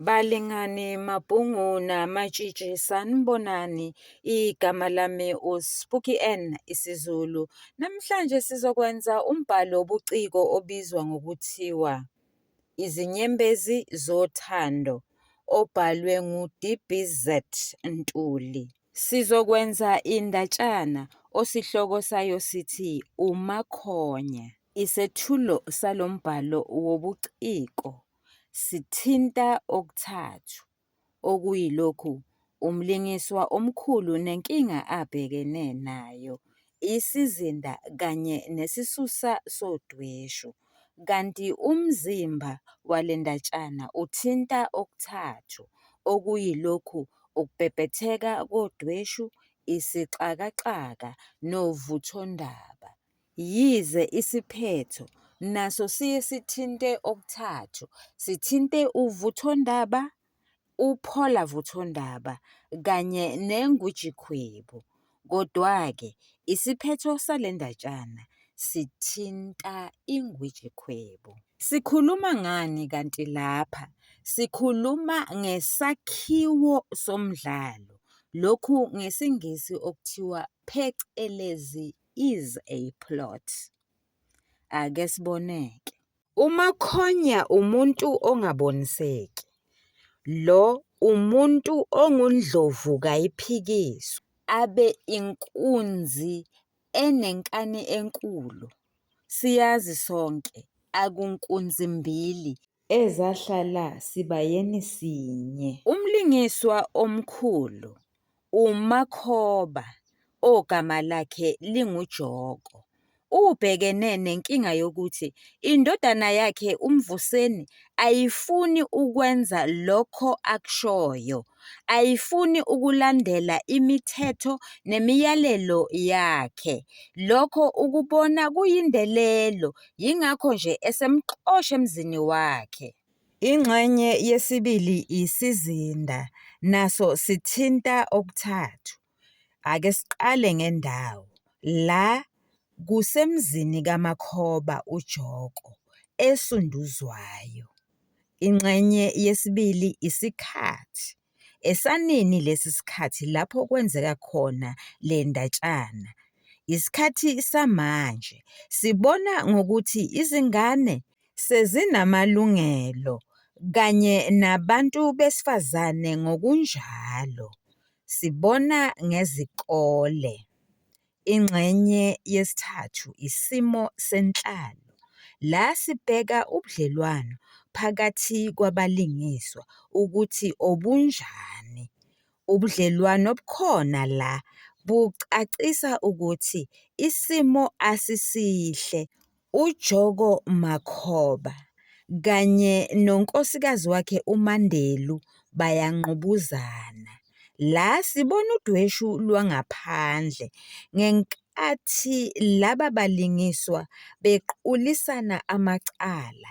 Balingani Mabhungu naMatshitshi sanibonani igama lami uSpooky N isiZulu. Namhlanje sizokwenza umbhalo wobuciko obizwa ngokuthiwa Izinyembezi Zothando obhalwe nguDBZ Ntuli. Sizokwenza indatshana osihloko sayo sithi uMakhonya. Isethulo salo mbhalo wobuciko. sithinta okuthathu, okuyilokhu umlingiswa omkhulu nenkinga abhekene nayo, isizinda kanye nesisusa sodweshu, kanti umzimba wale ndatshana uthinta okuthathu, okuyilokhu ukubhebhetheka kodweshu, isixakaxaka novuthondaba. Yize isiphetho naso siye sithinte okuthathu, sithinte uvuthondaba, uphola vuthondaba kanye nengujikhwebu, kodwa-ke isiphetho sale ndatshana sithinta ingujikhwebu. Sikhuluma ngani kanti lapha? Sikhuluma ngesakhiwo somdlalo, lokhu ngesiNgisi okuthiwa phecelezi is a plot. Ake siboneke. UMakhonya umuntu ongaboniseki. Lo umuntu ongundlovu kayiphikiswa. Abe inkunzi enenkani enkulu. Siyazi sonke akunkunzi mbili ezahlala sibayeni sinye. Umlingiswa omkhulu uMakhoba ogama lakhe linguJoko ubhekene nenkinga yokuthi indodana yakhe uMvuseni ayifuni ukwenza lokho akushoyo, ayifuni ukulandela imithetho nemiyalelo yakhe. Lokho ukubona kuyindelelo yingakho nje esemxosha emzini wakhe. Ingxenye yesibili isizinda, naso sithinta okuthathu. Ake siqale ngendawo la kusemzini kaMakhoba uJoko esunduzwayo. Ingxenye yesibili isikhathi. Esanini lesi sikhathi lapho kwenzeka khona le ndatshana? Yisikhathi samanje. Sibona ngokuthi izingane sezinamalungelo kanye nabantu besifazane ngokunjalo. Sibona ngezikole. Ingxenye yesithathu isimo senhlalo, la sibheka ubudlelwano phakathi kwabalingiswa ukuthi obunjani. Ubudlelwano obukhona la bucacisa ukuthi isimo asisihle UJoko Makhoba kanye nonkosikazi wakhe uMandelu bayangqubuzana. La sibona udweshu lwangaphandle ngenkathi laba balingiswa bequlisana amacala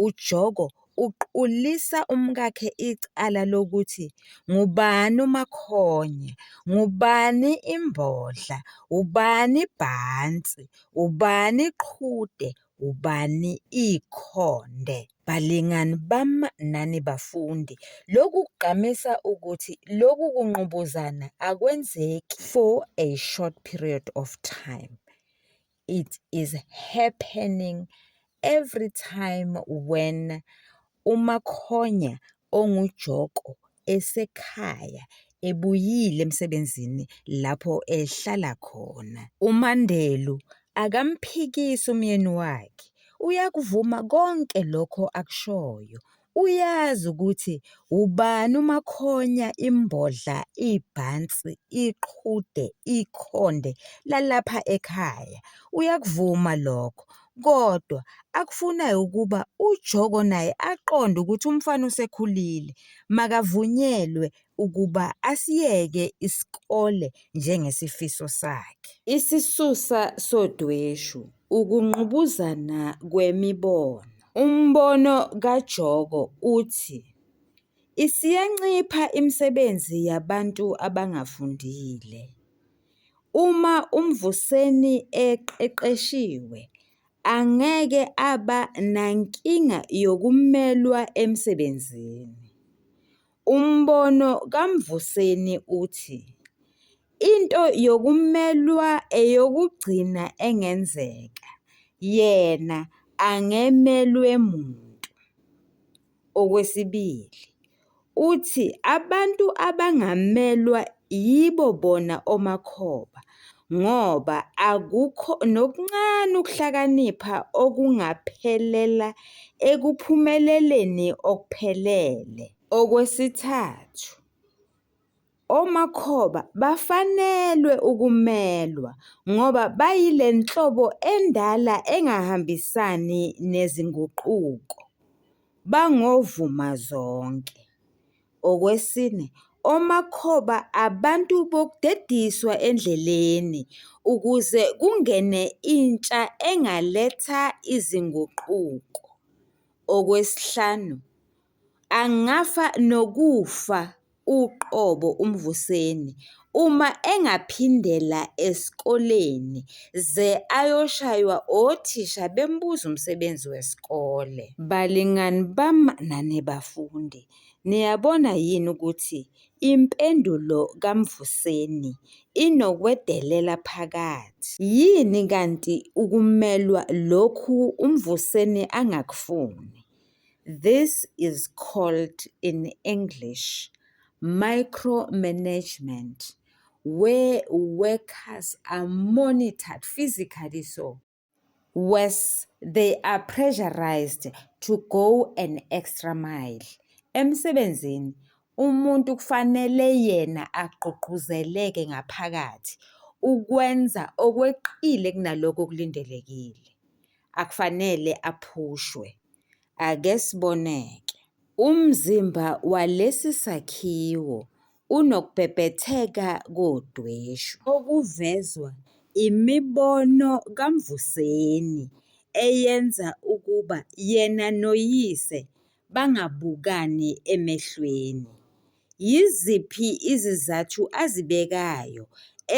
uJoko uqulisa umkakhe icala lokuthi ngubani uMakhonya, ngubani imbodla, ubani ibhansi, ubani iqhude, ubani ikhonde. Balingani bami nani bafundi, lokhu kugqamisa ukuthi lokhu kungqubuzana akwenzeki for a short period of time. it is happening every time when umakhonya ongujoko esekhaya ebuyile emsebenzini lapho ehlala khona. UMandelu akamphikisi umyeni wakhe, uyakuvuma konke lokho akushoyo. Uyazi ukuthi wubani umakhonya imbodla ibhansi iqhude ikhonde lalapha ekhaya uyakuvuma lokho kodwa akufunayo ukuba ujoko naye aqonde ukuthi umfana usekhulile makavunyelwe ukuba asiyeke isikole njengesifiso sakhe isisusa sodweshu. Ukungqubuzana kwemibono. Umbono kaJoko uthi isiyancipha imisebenzi yabantu abangafundile. Uma uMvuseni eqeqeshiwe angeke aba nankinga yokumelwa emsebenzini. Umbono kaMvuseni uthi into yokumelwa eyokugcina engenzeka, yena angemelwe muntu. Okwesibili, uthi abantu abangamelwa yibo bona omakhoba ngoba akukho nokuncane ukuhlakanipha okungaphelela ekuphumeleleni okuphelele. Okwesithathu, omakhoba bafanelwe ukumelwa ngoba bayile nhlobo endala engahambisani nezinguquko, bangovuma zonke. Okwesine, omakhoba abantu bokudediswa endleleni ukuze kungene intsha engaletha izinguquko. Okwesihlanu, angafa nokufa uqobo uMvuseni uma engaphindela esikoleni ze ayoshaywa othisha bembuza umsebenzi wesikole. Balingani bami nanibafundi, Niyabona yini ukuthi impendulo kaMvuseni inokwedelela phakathi? Yini kanti ukumelwa lokhu uMvuseni angakufuni? This is called in English micromanagement where workers are monitored physically so. Worse, they are pressurized to go an extra mile. Emsebenzini, umuntu kufanele yena agqugquzeleke ngaphakathi ukwenza okweqile kunalokho okulindelekile. Akufanele aphushwe. Ake siboneke. Umzimba walesi sakhiwo unokubhebhetheka kodweshu okuvezwa imibono kaMvuseni eyenza ukuba yena noyise bangabukani emehlweni. Yiziphi izizathu azibekayo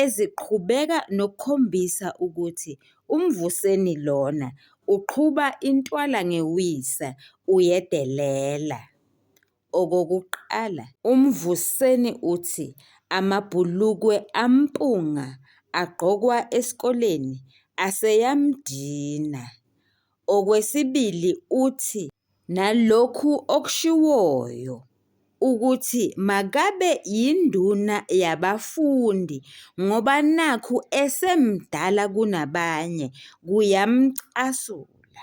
eziqhubeka nokukhombisa ukuthi uMvuseni lona uqhuba intwala ngewisa uyedelela? okokuqala? UMvuseni uthi amabhulukwe ampunga agqokwa esikoleni aseyamdina. Okwesibili uthi nalokhu okushiwoyo ukuthi makabe yinduna yabafundi ngoba nakhu esemdala kunabanye, kuyamcasula.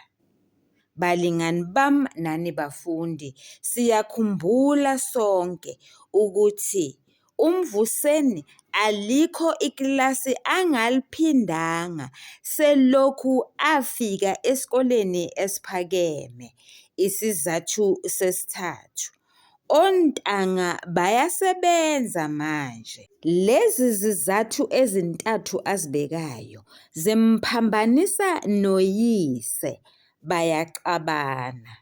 Balingani bam nani bafundi, siyakhumbula sonke ukuthi uMvuseni alikho ikilasi angaliphindanga selokhu afika esikoleni esiphakeme. Isizathu sesithathu, Ontanga bayasebenza manje. Lezi zizathu ezintathu azibekayo zimphambanisa noyise, bayaxabana.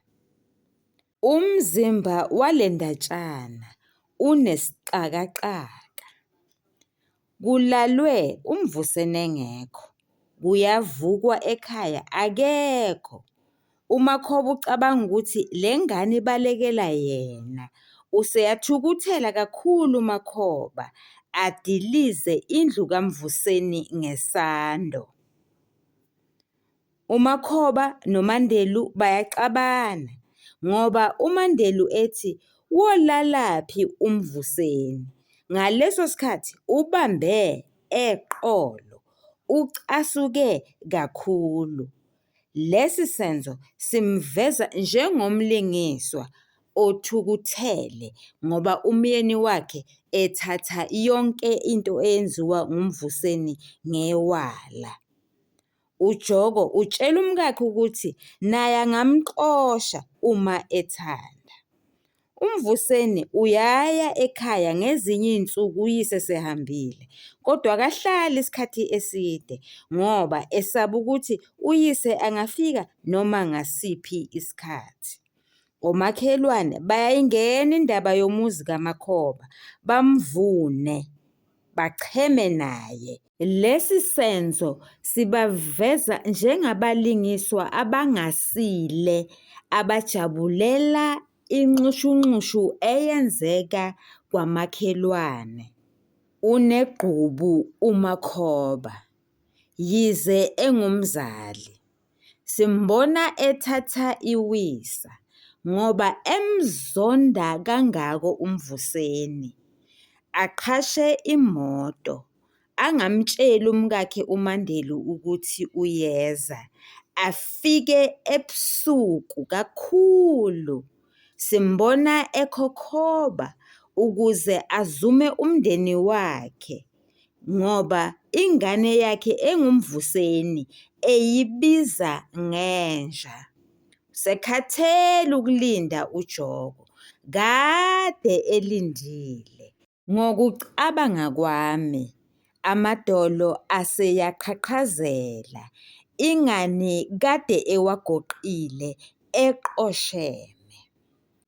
Umzimba wale ndatshana unesixakaxaka. Kulalwe uMvuseni engekho, kuyavukwa ekhaya akekho. UMakhoba ucabanga ukuthi le ngane ibalekela yena. Useyathukuthela kakhulu uMakhoba, adilize indlu kaMvuseni ngesando. uMakhoba noMandelu bayaxabana ngoba uMandelu ethi wolalaphi uMvuseni ngaleso sikhathi ubambe eqolo, ucasuke kakhulu. Lesi senzo simveza njengomlingiswa othukuthele ngoba umyeni wakhe ethatha yonke into eyenziwa nguMvuseni ngewala. UJoko utshela umkakhe ukuthi naye angamxosha uma ethanda. UMvuseni uyaya ekhaya ngezinye izinsuku uyise sehambile kodwa akahlali isikhathi eside ngoba esaba ukuthi uyise angafika noma ngasiphi isikhathi. Omakhelwane bayayingena indaba yomuzi kaMakhoba bamvune. bacheme naye. Lesi senzo sibaveza njengabalingiswa abangasile abajabulela inxushunxushu eyenzeka kwamakhelwane. Unegqubu uMakhoba, yize engumzali. Simbona ethatha iwisa ngoba emzonda kangako uMvuseni, aqhashe imoto angamtsheli umkakhe uMandelu ukuthi uyeza, afike ebusuku kakhulu. Simbona ekhokhoba ukuze azume umndeni wakhe. ngoba ingane yakhe engumvuseni eyibiza ngenja. Usekhathele ukulinda uJoko. Kade elindile. Ngokucabanga kwami, amadolo aseyaqhaqhazela. Ingani kade ewagoqile eqosheme.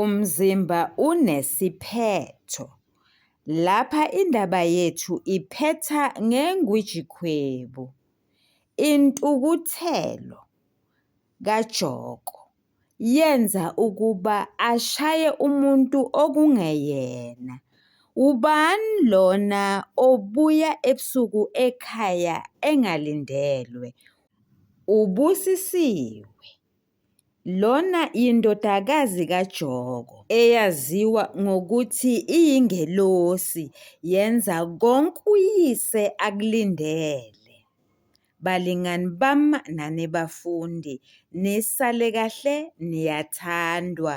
Umzimba unesiphetho. Lapha indaba yethu iphetha ngeNgwijikhwebu, intukuthelo kaJoko yenza ukuba ashaye umuntu okungeyena. Wubani lona obuya ebusuku ekhaya engalindelwe? UBusisiwe. Lona yindodakazi kaJoko, eyaziwa ngokuthi iyingelosi, yenza konke uyise akulindele. Balingani bam nanibafundi, nisale kahle niyathandwa.